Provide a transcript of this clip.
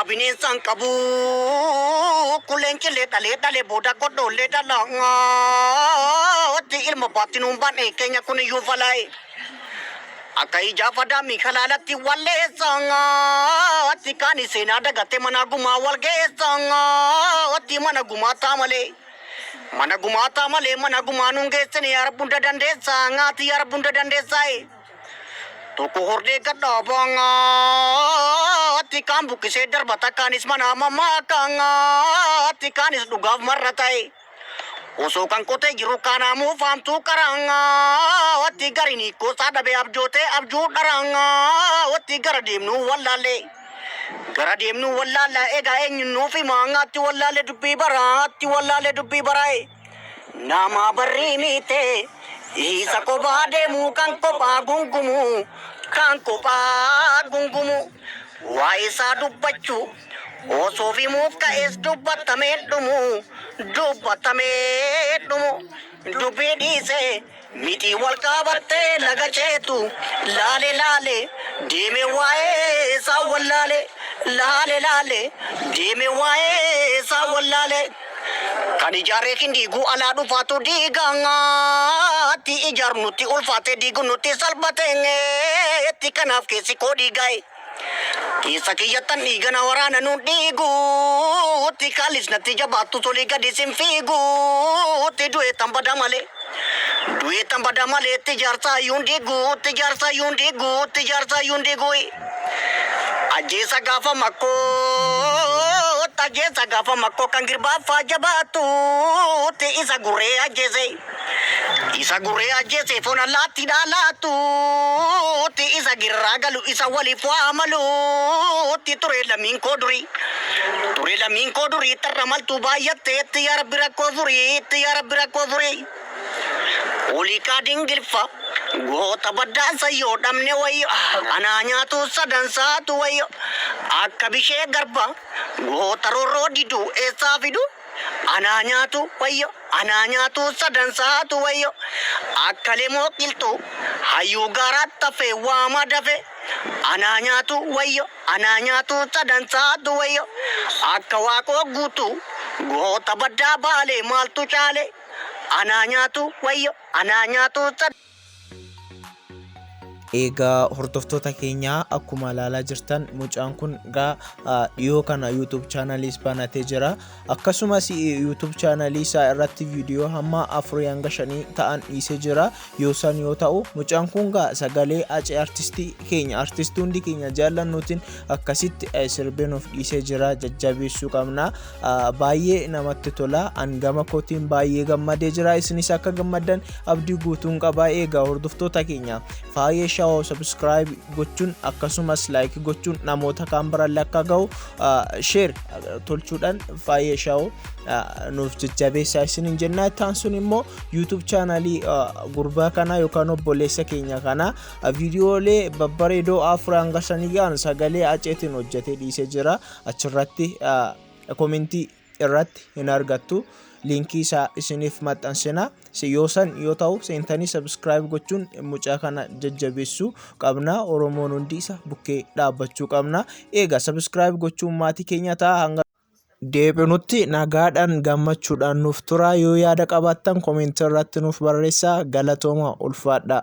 A bineensa hin qabu kun leencillee dhalee dhale booda godhoollee dhala otti ilma baatti nuun baan'e keenya kun iyyuu falaa'e akka ijaa fadaamii kalaalatti walleessa otti kaani seenaa dagatte manaa gumaa walgeessa otti mana gumaa taa malee mana gumaa taa malee mana gumaa nuun geessine yaa rabbi hunda dandeessaa ngaati yaa rabbi hunda dandeessaaye. Tokko hordee gadhaa baangaatti kaan buqqisee darbata kaanis mana amammaa kaangaatti kaanis dhugaaf marra ta'e. Osoo kan qotee jiru kaanaamuu faamtuu qaraangaatti gariin hiikkoosaa dhabee abjootee abjuu dharaangaatti gara deemnuu wallaallee. Gara deemnuu wallaalla egaa eenyuun nuuf himaangaatti wallaallee dubbii baraatti wallaallee dubbii baraa'e. Namaa barrii miitee Isa kophaa deemuu kan kophaa gungumuu kan kophaa gungumuu Waa'ee isaa dubbachuu osoof himuuf ka'es dubbatamee dhumuu dubbatamee dhumuu Dubbii dhiisee Miti wal qabattee laga ceetu Laale laale deeme waa'ee isaa wallaale Laale laale deeme waa'ee isaa wallaale Kan ijaaree hin diigu alaa dhufaatu diiga Atti ijaarun nutti ulfaate diigun nutti salphate Tti kanaaf keessi koo dhiigaa'e Keessa kiyyattan dhiiga na waraana nuun dhiigu. Utti kaalis natti jabaattu tolii gadi sin fiigu. Utti du'eettan bada malee. Du'eettan bada malee itti jaarsaa yuun diigu. Itti jaarsaa yuun diigu. Itti jaarsaa yuun diigu. Ajjeesa gaafa makkoo. Ajjeesa gaafa makkoo kan girbaaffaa jabaattu. Utti isa gurree ajjeesee. Isa guree ajjeese foon allaattiidhaa laattuutti isa girraa galu isa waliif waa maluutti ture lammiin koo durii. Ture lammiin koo durii tarra maltuu baay'atteetti yaa rabbi rakkoo furiitti yaa rabbi rakkoo furii. Oliiqaa dingilfa goota baddaansa yoo dhabne wayyo anaa nyaatu sadansaatu wayyo akka bishee garba goota rorroo diduu eessaa fiduu. Anaa nyaatu wayyo anaa nyaatu sadan saatu wayyo akka lemoo qilxuu hayyuu gaaraat tafe waama dafe Anaa nyaatu wayyo anaa nyaatu sadan saatu wayyo akka waaqoo guutuu goota baddaa baalee maaltu caale Anaa nyaatu wayyo anaa nyaatu sadan. Egaa hordoftoota keenyaa akkuma ilaalaa jirtan mucaan kun gaa dhiyoo kana YouTube chaanaliis banatee jira. Akkasumas YouTube chaanalii isaa irratti viidiyoo hamma afurii hanga shanii ta'an dhiisee jira. Yoo san yoo ta'u mucaan kun gaa sagalee acee artistii keenya artistii hundi keenya jaallannuutiin akkasitti sirbee nuuf dhiisee jira jajjabeessuu qabna. baay'ee namatti tola an gama kootiin baay'ee gammadee jira isinis akka gammaddan abdii guutuun qabaa eegaa hordoftoota keenya faayee shaawoo sabiskiraayib gochuun akkasumas laayik gochuun namoota kaan biraan akka ga'u sheer tolchuudhaan faayee shaawoo nuuf jajjabeessaa isin hin jennaa ittaan sun immoo yuutuub chaanaalii gurbaa kanaa yookaan obboleessa keenya kanaa viidiyoolee babbareedoo afur hanga shanii ga'an sagalee aceetiin hojjetee dhiisee jira achirratti komentii irratti hin argattu liinkii isaa isiniif maxxansina yoo san yoo ta'u seentanii sabiskiraayib gochuun mucaa kana jajjabeessuu qabna oromoon hundi isa bukkee dhaabbachuu qabna eega sabiskiraayib gochuun maatii keenya ta'a hanga deebinutti nagaadhaan gammachuudhaan nuuf turaa yoo yaada qabaattan komentii irratti nuuf barreessaa galatooma ulfaadhaa.